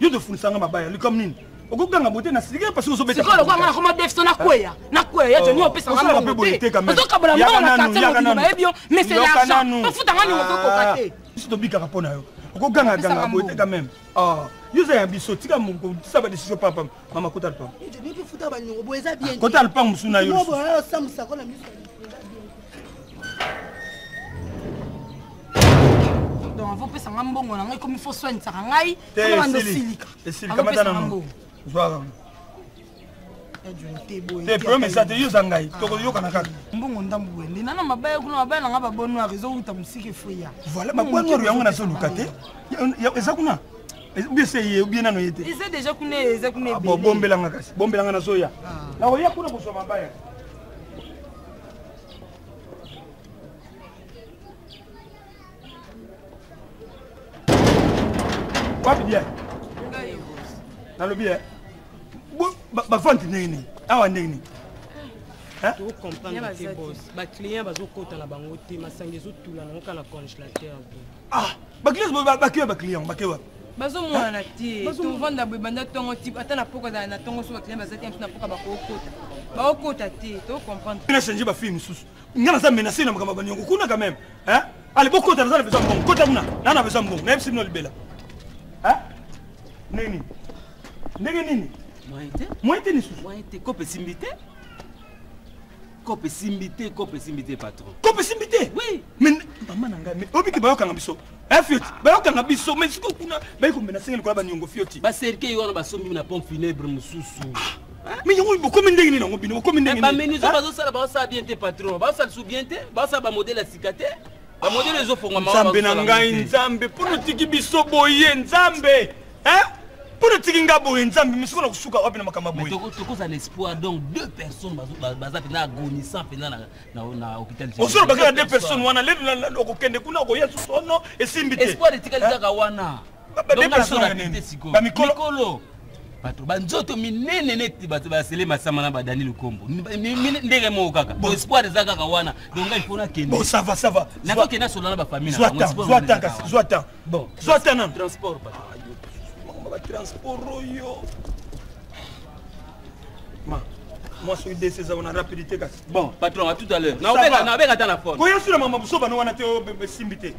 yo tofundisa nga mabaya likambo nini okokanga bote na silika parce que ozobeta sikoyo lokola nga nakoma defso nakweya nakweya ya joni opesa nga mbongo te ozokabola mbongo na quartier mobimba bayebi yo mais c'est l'argent ofuta nga ningo okokoka ah, te biso tobikaka mpo na yo okogangaganga boye te quand même ah, yo oza ya biso tika mokotisa badecision papa mama kota lupango ah, kota lupango mosusu na yo donc avant opesa ngai mbongo na ngai komi fo soinisaka ngai obanda osilika esilika na mbongo zwaka te problème eza te yo oza ngai ah. tokoyokana kaka mbongo ndambu wende nana mabaya kuna mabaya na ngai babon noir ezowuta mosika efoya voilà babon noir yango nazoluka te eza kuna mbese ye obie nano ye te eza deja kuna eza kuna ah, ebele bombelanga kasi bombelanga nazoya ah. nakoya kuna kozwa mabaya wapi bien nalobi eh? bavante ndenge nini awa ndenge nini tocomprendre te bos baclient bazokota na bango te masanga ezotula nango kaka na congelateur ah bakilasi bakewa baclient bakewa bazomonana te tovanda boye banda ntongo ti ata na poko azala na ntongo so baclient baza te mosu na poka bakokota bakokota te tocomprendre na change bafille mosusu ngai naza menace na makambo baniongo kuna quand même ale bokota naza na besoin mbongo kota kuna naa na besoin mbongo nayebisi bino libela ndenge nini ndenge nini moyen te moyen te lisusu moyen te kope esimbi te Coop esimbi te, coop esimbi te patron. Coop esimbi te? Oui. Mais maman na ngai, mais obi ke bayokanga biso. Eh fioti, bayokanga biso, mais siko kuna bayi ko menacer ngeli kola ba nyongo fioti. Ba cercueil wana basombi na pompe funèbre mususu. Ah, mais yango bokomi ndenge nini yango bino bokomi ndenge eh, nini? Ba menuisier ah. bazosala bazosala bien te patron, bazosala sous bien te, bazosala ba modèle ya sika te. Ba modèle ezofongwa mawa. Nzambe na ngai, Nzambe, mpo notiki biso boye, Nzambe. hein mpo natiki nga boye nzambe misiko na kosuka wapi na makambo boye tokozala na espoir donc deux personnes baza mpenza agonissant mpenza na hôpital ozoloba kaka deux personnes wana lelo okokende kuna okoya susu ono esimbi te espoir etikali kaka wana bamikolo bato banzoto minene neti bato basele masama na badani lukombo ndenge moko kaka espoir eza kaka wana dongai mpo nakende nakokende asola na bafamille na bango bon zwa ta nanu transport ba ah, transport oyo ma moi soki desi eza wana rapidité kasi bon patron à tout à l'heure nabeka ata na fone koya sula mama busoba no wana te osimbi te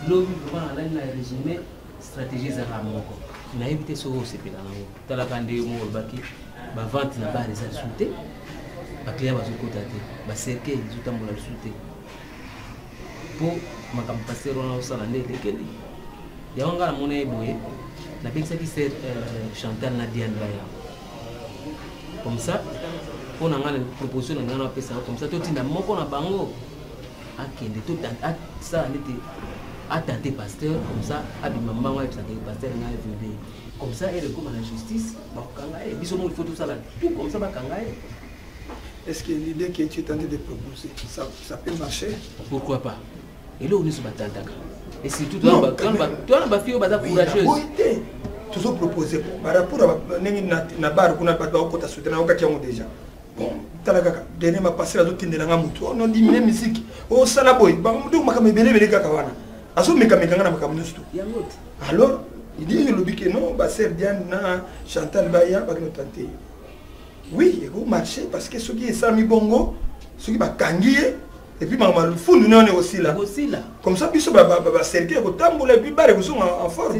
lobi vraiment nalali na résumé stratégie ezalaka moko nayebi te soki osepela nango talaka ndenge moko olobaki bavente na bale eza lisusu te baclient bazokota te bacercueil ezotambola lisusu te mpo makambo paster wana osala nde elekeli yango ngai namona ye boye nabekisaki ser euh, chantal na diandra yango comme ça mpo na ngai na proposition na ngai napesaka comme ça totinda moko na bango akende to asala nete atente pasteur comme ça abima mbango ayebisaka ye pasteur ngai avele comme ça ele ekoma na justice bakokanga ye biso moko ifo tosala tout comme ça bakanga ye est ce que l'idée que tu es tenté de proposer ça, ça peut marcher pourquoi pas eloko nyonso batantaka et surtout twana bafille oyo baza courageuse tozopropose par rapport ndenge na bar kuna bato bakokota soutena okaki yango déjà tala kaka dernier mapasela azotindela nga motu oh, non dimine misiki osala oh, boye donc makambo ebele ebele kaka wana azomekameka nga na makambo nyonso to alors idii olobi ke non baser diane na chantal baya bakino tante oui ekomarche parce que soki esalami bongo soki bakangi ye epuis makambo malufundu nayone ekosila comme ça biso baserke ekotambola epuis bare ekozonga en forme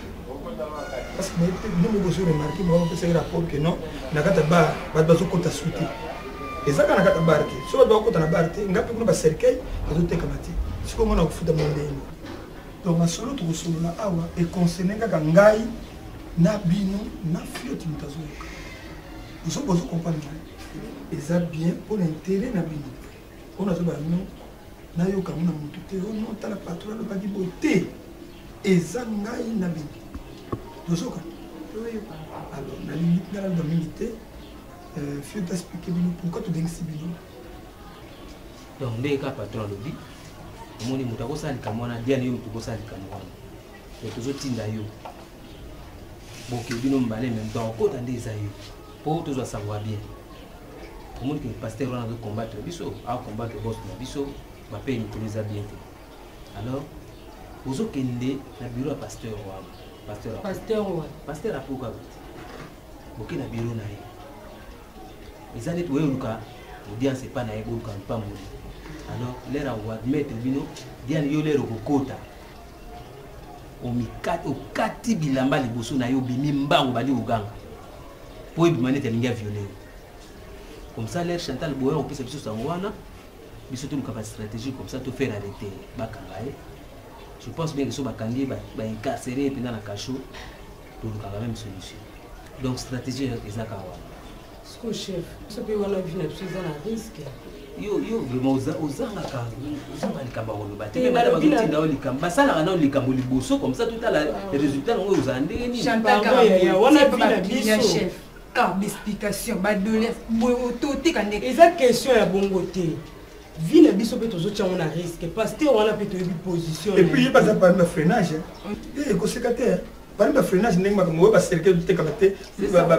parce que bino moko ozo remarke moko opesaki rapport que non na kati ya bar bato bazokota su te eza kaka na kati ya bar te so bato bakokota na bar te ngai mpe kuna bacercueil bazotekama te sikoyo mona kofuta mwa ndenge donc masolo tokosolola awa econcerne kaka ngai na bino na fioti moto azoyoka ozo bozo comprendre ngai eza bien mpo na intere na bino oyo nazoba no nayoka mona motu te o oh no tala patron alobaki boye te eza ngai na bino tozoka alors nalingi nalanda mingi te euh, fio taexplike bino pourkui tobengisi bino donc ndenge kaka patron alobi omoni moto akosala likambo wana diane yo moto okosala likambo wana donc tozotinda yo boke bino mibale meme donc okota nde eza yo mpo tozwa savoir bien omoni ke pasteur wana azo combattre biso a combattre boss na biso bapeye mikolo eza bien te alors ozokende na biro ya pasteur wana pasteur pasteur wana pasteur apuka boke na biro na ye eza neti oye oluka audience epa na ye boluka mpamboli alors lere akoadmettre bino diane yo lere okokota okati bilamba liboso na yo obimi mbango bandi koganga po ebima neti alingi aviole yo comme ça l'air chantal boya kopesa biso sango wana biso toluka ba stratégie comme ça tofaire arrete bakanga ye je pense bien que so bakangi baincarcere ye mpenza na cachot tolukaka même solution donc stratégie ezaka wana siko chef biso mpe wana vi na biso eza na risque yo yo vraiment oza ozangaka ozanga likambo ya koloba te bana bazotinda yo likambo basalaka nao likambo liboso comme ça totala résultat nango ozala ndenge nini wana vi na biso ah baexplication badoleance boye toteka nde eza question ya bongo te vie na biso mpe tozotya yango na risque paster wana mpe toyebi position epuis ye baza pami na freinage ekoseka te bani ba freinage ndenge makambo oyo baserke bitekaka te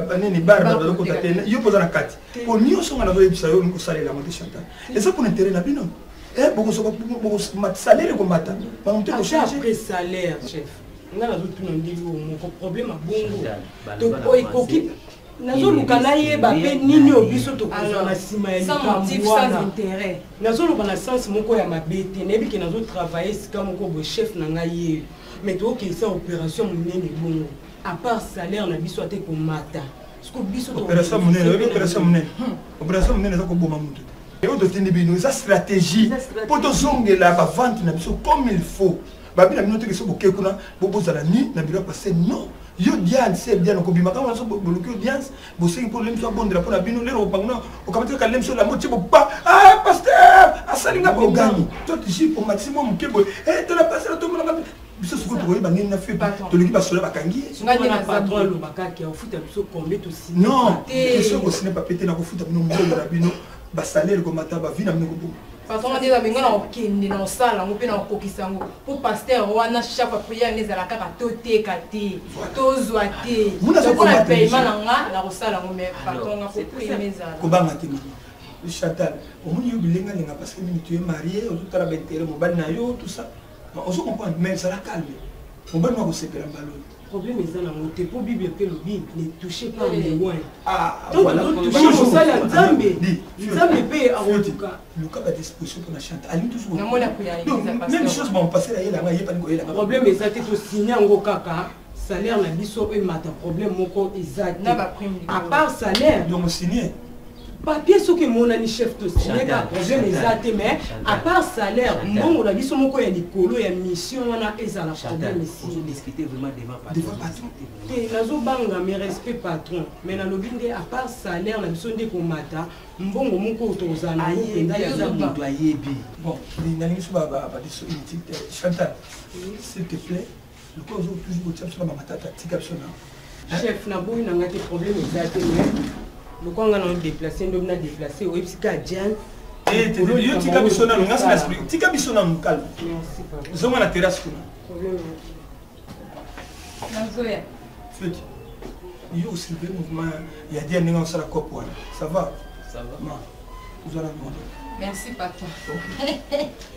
banini bar bato bazokota te yo mpoza na kati mpo nyonso nga nazoyebisa yo olingi kosalela yango te chantal eza mpona intere na bino salaire ekomata makambo te kochange salaire chef nga nazotuna ndenge oyo moko problème abongo donc oyo ekoki nazoluka nayeba mpe nini oyo biso tokozwa na nsima ya likambo wana nazoloba na sense moko ya mabe te nayebi ke nazotravaille esika moko boye chef na ngai yeyo mais tokokisa opération monene bongo apart salaire na biso ata ekomata opération monene oyebi opération monene hmm. opération monene eza koboma motu te yango totindi bino eza stratégie mpo tozongela bavante na biso comme il faut babi na bino teke so boke kuna bobozala ni na biro ya pase non yo diane se diane okobima kaka nyonso boluki audience bosengi mpo lemso abondela mpo na bino lelo okopanguna okamati kaka lemso lambo tie bopa ah, paster asali nga bogani to tisi omatisi mwa moke boye eh, tala pasela tomonaka biso soko tokoyeba nini na fete tolingi basoda bakangi non question kosine papier te nakofuta bino mbongo na bino basalele komata bavi na bino koboma façon nde eza benga na kokende na kosala yango mpe na kokokisa yango mpo paster wana chaque prière nde ezala kaka toteka te tozwa te lokola paiement na nga na kosala yango mai façon nga koprime ezala kobanga te chatal omoni yo bilenga lenga parce que mini tu es marié ozotala baintere mobali na yo tout ça ozo comprendre mais ezala calme mobali makosepela mbaloyo problème eza nango te mpo bible mpe elobi ne touche pas le loin donc totouche mosali ya nzambe nzambe mpe akotuka luka ba disposition mpona chante alingi toujourmeme chose bampase na yelanga yepani koyelanga problème eza te tosigne yango kaka salaire na biso emata problème moko eza te à part salaire donc signe papier soki emonani chef tosileka problème eza te mais à part salaire mbongo na biso moko ya likolo ya mission wana ezala problème te nazobanga mais respect patron mais nalobi nde à part salaire na biso nde komata mbongo moko oyo tozala nango mpenza yamoto ayebi bon nalingi so babadiso inutile te chantal s'il te plaît Lokola ozo toujours kotia biso na bamatata tika biso na. Chef na boyi na ngai te problème eza te mais lokola ngai na déplacer ndomi na déplacer oyebisi ka Diane eh, yo tika biso nanu ngai sina esprit tika biso nanu calme zonga na terrasse kuna nazoya feti yo osilve mouvement ya dia ndenge osala cop wana ça va ma ozala moto merci papa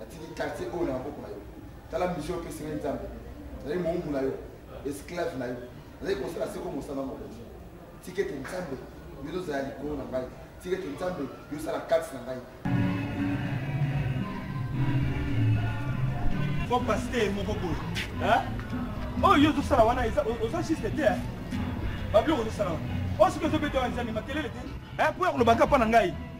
natiki quartier oyo na maboko na yo tala mission oyo opesi ngai nzambe nazali moumbu na yo esclave na yo nazali kosala seko mosala mokonzi tika ete nzambe yo tozala likolo na ngai tika ete nzambe yo osala kati na ngai kopasi te moko boye oyo yo ozosala wana oza juste te babiloko ozosala wana oyo soki ozobeta wana ezali makelele te mpo ya kolobaka mpo na ngai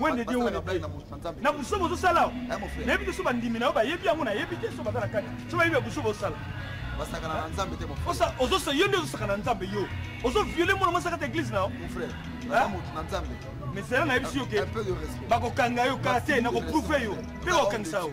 wende die wende na busoba ozosala eh, nayebi te so bandimi na yo bayebi yango nayebi te so baza na kati so bayebi ya busoba osala basakana na nzambe te ozosa yo nde ozosakana na nzambe yo ozoviole mwana mwasi kata eglise na yo moto na nzambe misala nayebisi yo ke bakokanga yo kala te nakoprouve yo mpe bakokangisa yo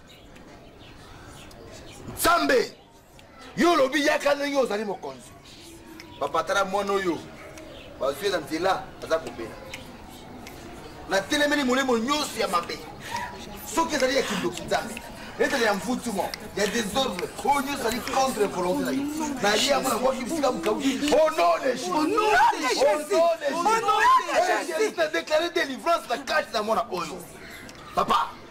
nzambe yo olobi yaka ndenge ozali mokonzi bapatala mwana oyo bazwi na nzela aza kobela natelemeli molimo nyonso ya mabe soki ezali ya kindoki nzambe ezali ya mvutuma ya desordre oyo nyonso ezali contre volonté na yo naye yango nakoki bisika mokauki ononejesusnadeklare délivrance na kati na mwana oyo papa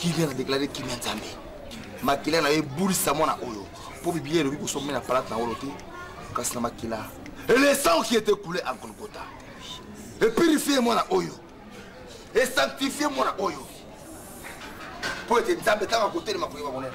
kimia na deklare kimia nzambe makila na yo ebulisa mwana oyo mpo biblia elobi kosomela palate na wolo te kasi na makila et le sang qui était coulé en golgotha epurifie mwana oyo esanctifie mwana oyo mpo ete nzambe ntango akotelema koyeba monene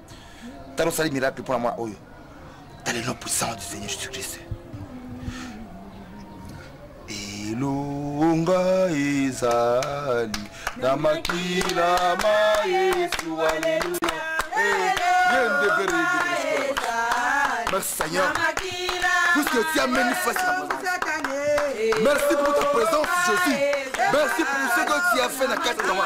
tala osali miracle mpo na mwa oyo tala elon puissance du seigneur jésus christ elonga ezali na makila ma yesu aleluya merci seigneur puisque tu as mené face à merci pour ta présence jésus merci pour ce que tu as fait na kati na moi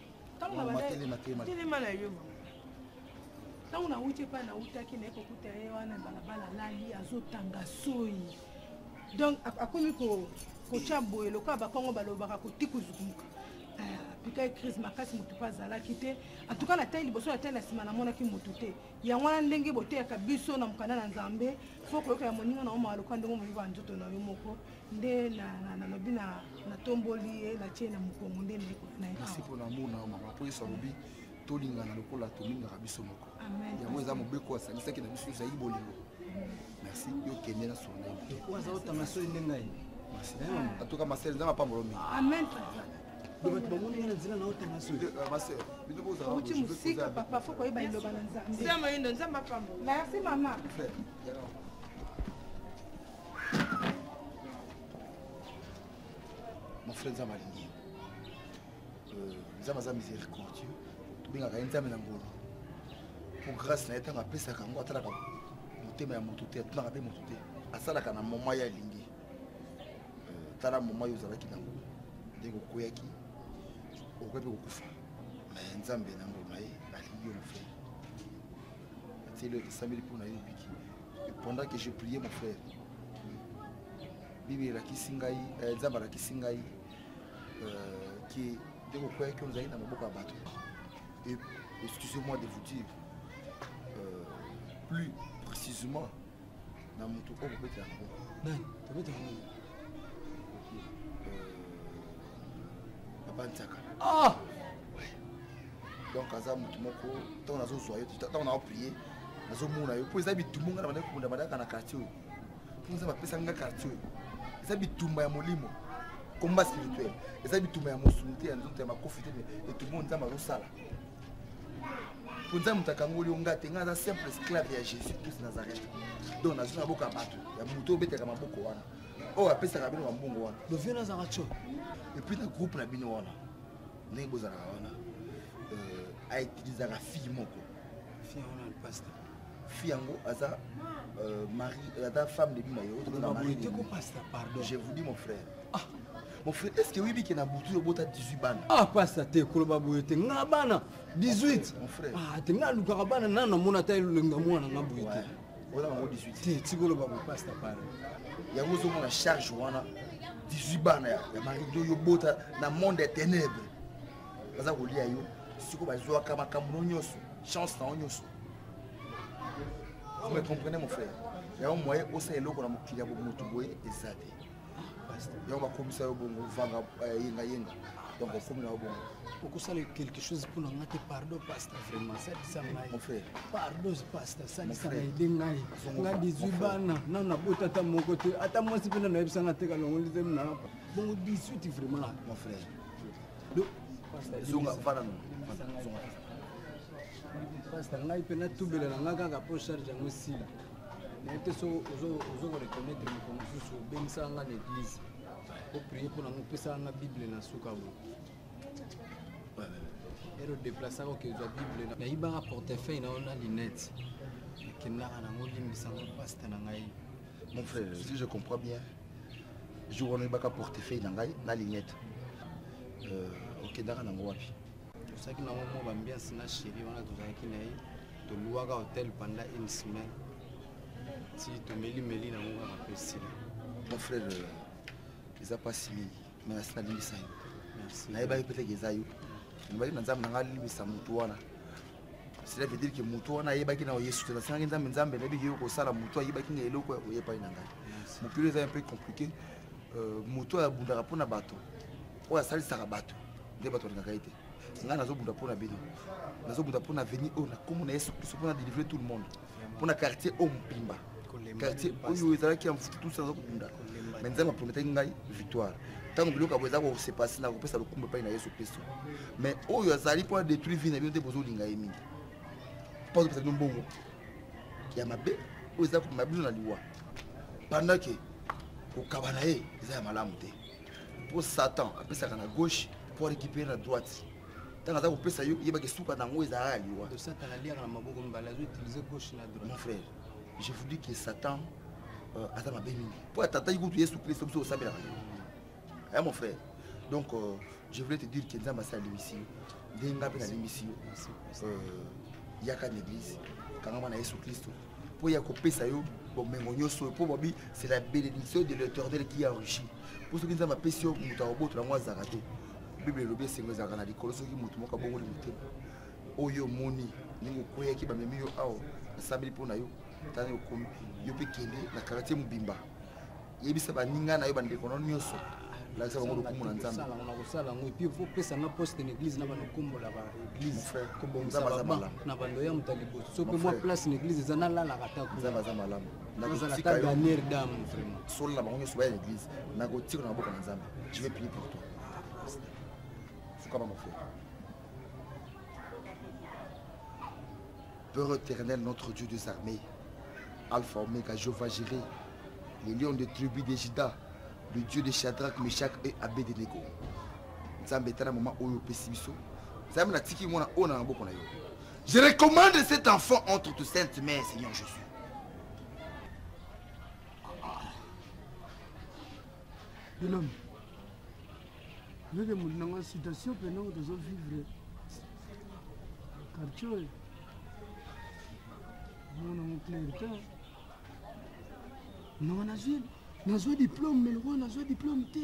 telema na yo ntango nauti epai nautaki naye kokuta ye wana balabala alali azotanga soi donc akomi kotya boye lokola bakongo balobaka kotikuzukumuka apikaki eh, crise makasi motu mpe azalaki te antuka na tai liboso na tai na nsima namonaki motu te yango wana ndenge boteyaka biso na mokanda na nzambe fo koyoka ya moninga na yo mawa lokola ndenge omoyoka ya nzoto na yo moko nde nalobi natomboli ye natie na mokongo nde nayekola na ye kasi mpo na mona mama mpo yesu alobi tolingana lokola tolingaka biso moko yango eza mobeko asangisaki na biso ezali bolingo merci yo kende na sona aza otanga soki nde ngai atoka masele nzambe apambolo mingi bato bamoni ye na nzela na otanga sokiuti mosika papa fo koyeba liloba na nzambe merci mama mon frère nzambe alingi euh, nzambe aza miséricordieux tobengaka ye nzambe na ngolu po grâce na ye ntango apesaka yango atalaka motema ya moto te atunaka mpe moto te asalaka na moma ye alingi euh, tala moma yo ozalaki nango nde kokweyaki okoki mpe kokufa me nzambe na ngolu na ye alingi yo mofei atieli yo ekesambeli mpo na yo obiki pendant que je priais mon frère bibi elakisi ngai eh, nzambe alakisi ngai ke euh, nde kokweyaki ozali na maboko ya bato et excusez moi de vous dire euh, plus précisément na moto oyo kobetela yango papa nzaka ah! donc aza motu moko ntango nazozwa yo ntango nao prie nazomona yo mpo eza bitumbu ngai na bandaki kobunda bandaka na quartier oyo mpo nzambe apesa ngai quartier oyo eza bitumba ya molimo combat spirituel eza bitumba ya mosuni te ya nzoto ya makofi te etumba oyo nzambe azosala mpo nzambe moto akangoli yo ngai te ngai aza simple esclave ya jésus christ nazareth donc nazwi na boka bato ya moto obetaka maboko wana oyo apesaka bino mambongo wana dovie nazaka tso epuis na groupe na bino wana ndenge bozalaka wana euh, autilisaka fille moko fille yango na pasta fille yango aza euh, mari euh, aza femme de bima je vous dis mon frère ah. mon frère est ce que oyebi ke na butu obota 18 bana ah pasta te koloba boye te nga bana 18 mon frère ah te nga alukaka bana nano namona ata elonga mwana nga boye te oza nango 18 te tika oloba boye pasta pale yango ozomona charge wana 18 bana ya marido yo bota na monde ya ténèbre baza kolia yo siko bazwaka makambo no nyonso chance na yo nyonso vous me comprenez mon frère yango moye osala eloko na mokili ya bomoto boye eza te yango bakomisa yo bongo vanga eh, yenga yenga donc okomi na yo bongo okosala quelque chose mpo na ngai te pardon pasta vraiment salisa ngai pardon pasta salisa ngai de ngai nga 18 bana nano nabota ata moko te ata mwasi mpe na nayebisa nga teka longo nde temi na bongo 18 vraiment mon frère zonga vana no zonga pasta ngai mpe natubela na ngai kaka mpo charge yango esila nayebi te so ozo koreconnaitre moko mosusu obengisaka nga na eglise oprie mpo nango opesaka nga bible na suka bo ero deplacaka okezwa bible nayibaka portefeuille na yo na linete nakendaka nango limbisanga paste na ngai mon frère si je comprends bien jour wana oyebaka portefeuille na ngai na linete euh, okendaka nango wapi tozalaki nango mwa bambiance na sheri wana tozalaki na ye toluwaka hotel pendant une semaine ti tomelimeli na yango kaka mpe sila mon frère euh, eza mpasi mingi me nasi nalimbisa yo nayebaki mpe teke eza yo nabaki na nzambe na ngai alimbisa motu wana cela veut dire que motu wana ayebaki na yesu te nasengaki nzambe nzambe nayebiki yo kosala motu ayebaki na eloko ya koya epai na ngai mokili eza mpe compliqué euh, motu oyo abundaka mpo na bato oyo asalisaka bato nde bato balingaka ye te ngai nazobunda mpo na bino nazobunda mpo na veni oyo na nkombo na yesu kristo mpo na delivre tout le monde mpo na quartier oyo mobimba quartier oyo ezalaki ya mfuti tusi naza kobunda me nzambe aprometaki ngai victoire ntango biloko yango eza kosepasi na kopesa lokumba epai na yesu kristo me oyo azali mpo adetruire vie na bino te bozolinga ye mingi mpo azopesa bino mbongo ya mabe oyo eza komema bino na liwa pendant ke kokaba na ye eza ya malamu te mpo satan apesaka na gauche mpo arécupere na droite ntango aza kopesa yo yebaka esuka na yango ezalaka liwa mon frère je vous dis que satan euh, aza mabe mingi mpo atataki kutu yesu kristo biso osambelaka yo ya mon frère donc euh, je voulais te dire que nzambe asi alimbisi yo ndenge nga mpe nalimbisi yo euh, yaka na église kangama na yesu kristo mpo ya kopesa yo bomengo nyonso oyo mpo babi c'est la bénédiction de l'éternel qui enrichi mpo soki nzambe apesi yo moto akobotola yango azalaka te bible elobi esengo ezalaka na likolo soki moto moko abongoli motema oyo omoni ndenge okweyaki bamemi yo awa nasambeli mpo na yo tani okomi yo mpe kende na kartier mobimba yebisa baninga na yo bandeko no nyonso lakisa bango lokumu na nzambe nakosala yango epui opesa nga poste na église na banokombola ba église kobongisa na bando ya moto ya liboso mpe mwa place na église eza nalalaka takoaza malamu nazala ta dernière dame vraiment solo na bango nyonso baya na église nakotika na maboko na nzambe je vais prier pour toi fukama mofela Père éternel, notre Dieu des armées, Alpha Omega, Jehovah Jiré, le lion de tribu de Juda, le Dieu de Shadrach, Meshach et Abednego. Nzambe etala moment oyo opesi biso. Nzambe natiki mwana oyo na maboko na yo. Je recommande cet enfant entre tes saintes mains, Seigneur Jésus. Bilombe. Nyoke mutu na nga situation mpe ndenge tozo vivre quartier oyo mona moclair te nanga nazwi nazwa diplome me lokola nazwa diplome te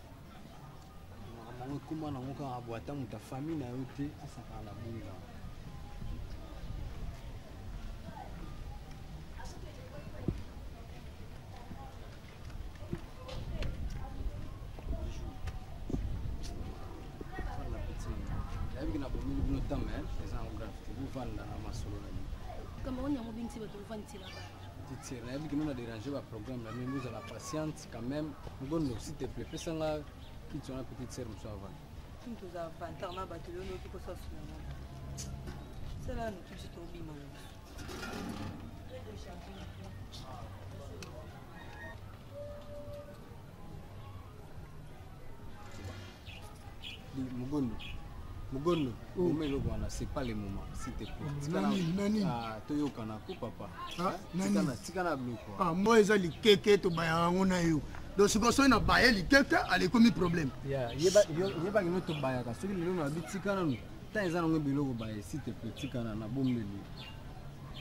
yango ekoma nango kaka bo ata moto ya famille na yo te asakana na bunga nayebi na bomeli bino tame eza yango grave te bovanda na masolo na bino kama oni yango bingisi bato bovandisela titire nayebi kino na dérange baprogramme na bino bozala patiente quand même ngondo s'il te plaît pesa nga kiti wana petite sœur mosusu avanda tini toza vantar na bato lelo noki kosa sulama sala notusi tobima na biso Mugondo. Mugondo, oh. moma eloko wana, c'est pas le moment, s'il te plaît. Nani, nani. Ah, toyokana ko papa. Ah, nani. Tikana, tikana bloko. Ah, moi eza likeke to bayaka ngo na yo. donc sikoyo soki na baye likeke alekomi problème yebaki no tobayaka soki lelo na bitika nanu ntango eza nango biloko baye si te pe tikana na bombeli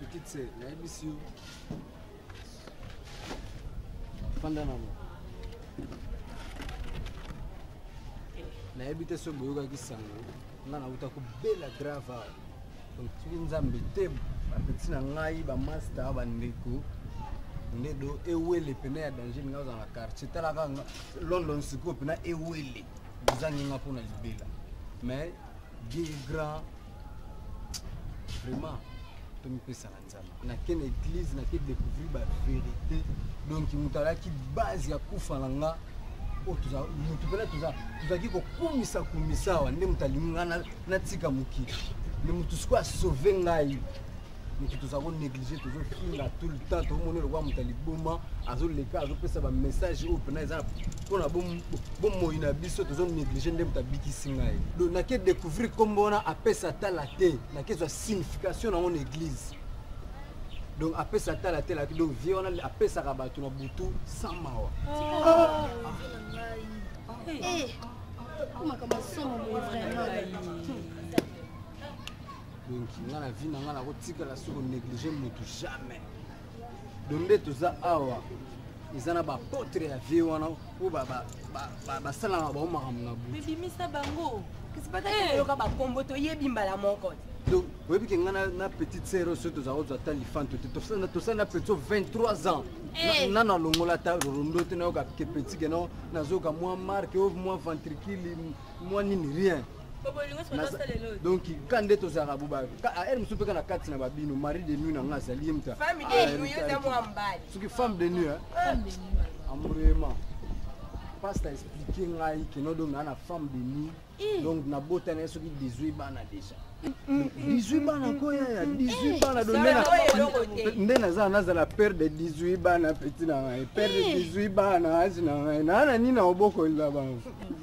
Petite sœur, nayebisi yo fanda na moi nayebi te soki boyokaki sango nga nauta kobela grave awa donc soki nzambe te bapeti na ngai bamasta bandeko nde do ewele pene ya danger ninga ozala na quartier talaka london sikoyo pena ewele bozangi nga mpona libela mais Dieu est grand. Vraiment, tomipesa na nzambe nake na église nake découvrir bavérité donc moto alaki base ya kufa na nga oh, moto mpena tozalaki kokumisa kumisa awa nde moto alingi nga natika mokili nde moto sikoyo asauve ngai moto tozala konéglige tozofinga tout le temps tomoni lokola moto ya liboma azoleka azopesa bamessage oyo mpena eza mpona bomoi na biso tozonéglige nde moto abikisi ngai do nake découvrir nkombo wana apesa tala te nake zwa signification nango na église donc apesa tala te laki donc vie wana apesaka bato na butu sans mawa ah. eh. makambo somo vraiment donki nga na vie na nga nakotikala soko néglige motu jamais donde toza awa eza na bapotre ya vie wana oyo basalaka bango makambo na bobimisa bango oyoka eh. bakombo toyebi mbala moko donc oyebi ke ngai na petite sere oyo soki tozala kozwa ata lifanto te tosali na petit 23 ans eh. na nalongola ata rondo te nayoka ke petit ke nao nazoyoka mwa marke o mwa ventricule mwa nini rien donc ka nde tozalaka boba aele mosusu mpe ka na kati na babino marie de nuit na ngai azali ye moto soki femme de nuit amourement pasta explike ngai keno donc naa na femme de nuit eh. donc nabota na ye soki 18 bana déjà 18 bana koya ya 18 bana do nde naza nazala père de 18 bana petit na ngai père de 18 bana age na ngai naa na nini na obokolela bango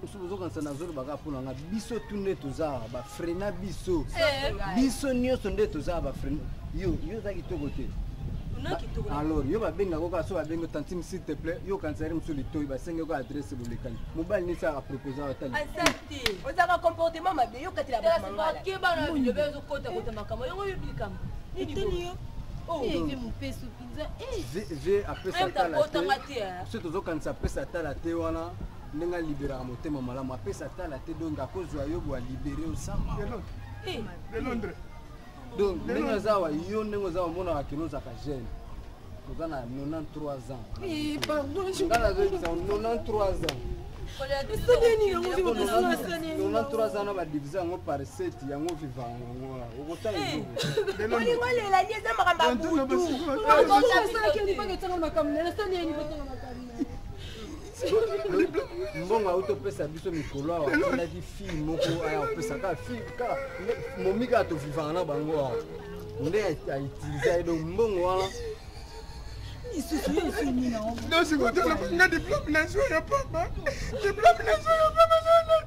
biso bozokanisa nazoloba kaka mpo na nga biso tu nde toza bafrena biso eh, biso nyonso nde toza bafrena yo yo oza kitoko te alors yo babenga ko kaka so babenga tantime s'il te plaît yo okanisa ri mosusu litoi basenge ko adresse bolekani mobali nisi apropose atali ozaka comportement mabe yo katela bamangalaakebana bilobe ezokota kota makambo yango yo bikambo nini Oh. vie mopesu mpenza vie apesa tala te biso tozokanisa apesa tala te wana ndenge aliberaka motema malamu apesa tala te donge akozwa yo bwa libere osama eh, eh. donc ndenge aza awa yo ndenge oza omonaka kino ozaka jeune oza na 93 ans eh, nga nazoyebisa 93 ans 93 ans na badivise yango par 7 yango viva yango okotaolela eza makambo ya butu mbongo auti opesa biso mikolo awa asalaki fille moko aya opesa kaka fille kaka momi kaka tovivaka na bango awa nde autiliza ye donc mbongo wana ndosikotala nga diplome nazwa ya pamba diplome nazwa ya pamba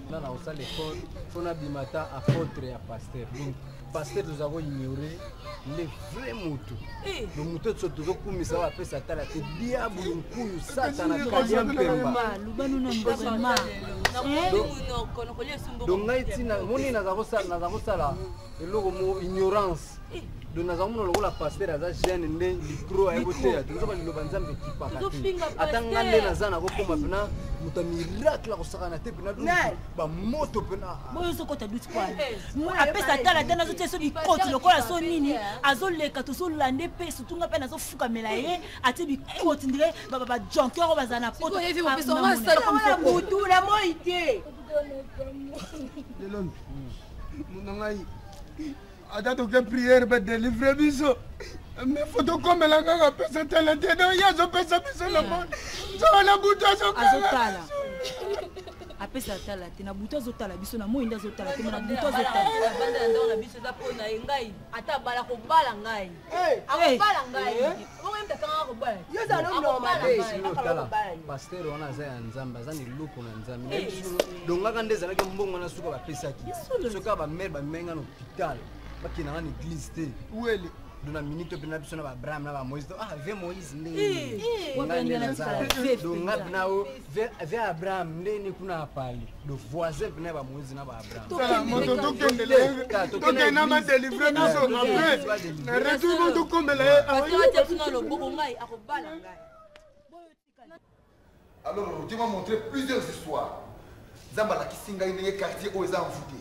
nga na kosala effort mpo nabima ata apotre ya paster donc paster toza koignore nde vrai motu eh. donc motu oyo tozokumisa oyo apesa tala te diabulu nkuyu satana kalia mpemba donc ngai ntina moni naza kosala eloko mo ignorance donc naza komona lokola paster aza jeune nde micro aye koteya toza baliloba nzambe ekipaka te ata nga nde naza nakokoma mpena moto ya miracle akosakana te mpena bamoto mpenaoyozokota duti kwana apesa tala te nazotia so bikoti lokola so nini azoleka tozolande mpe sutu nga mpe nazofukamela ye atie bikoti ndire bajonker oyo bazala na potobutula moi te lelo ngai ata toke priere mpe delivre biso me fo tokomela kaka pesa tala te no ye azopesa biso na mo nzoba na butu azokala apesa atala te na butu azotala biso na moi nde azotala te na butu azotala biso eza mpo na ye ngai ata abala kobala ngai akobala ngai pastere wana aza ya nzambe aza na eloko na nzambe eh. dongaka nde ezalaki mbongo wana suka bapesaki soki bamere bamemai nga na hôpital bakenda nga na église te wele dona minute mpe na biso na baabraham na bamoïse ah ve moïse ndenge eh. eh. nga nde naza donga bina o ve abraham nde ni kuna apali do voisin mpe na bamoise na baabrahamtokende na badelivre biso apres na retour mo tokombela ye alors je m'a montré plusieurs histoires nzambe alakisi ngai ndenge quartier oyo eza envoûté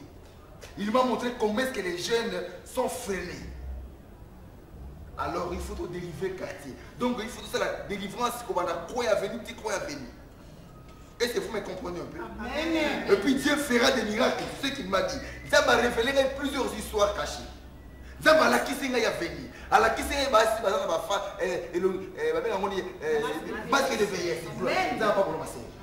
il m'a montré comment est ce que les jeunes sont freinés alors il faut todélivrer quartier donc il faut tosala délivrance kobanda croya aveni ti croya aveni est ce que vous me comprenez un peu Amen. et puis dieu fera des miracles ce qu'il m'a dit nzambe arévele ngai plusieurs histoires cachées nzambe alakisi ngai aveni alakisi ngai basi baza na bafa eh, eh, babenga ngoni eh, basque de veillesse nzambe apakoloma senge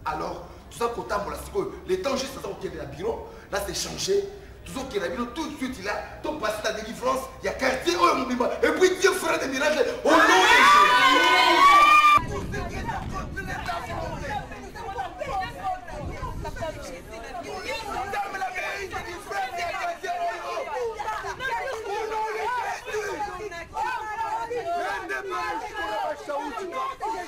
alors toza kotambola sikoyo le temps juste aza kokende na bureau na se changer tozokela bino tout de suite là topasi na délivrance ya quartier oyo mobimba et puis dieu fera des miracles au nom de Jésus.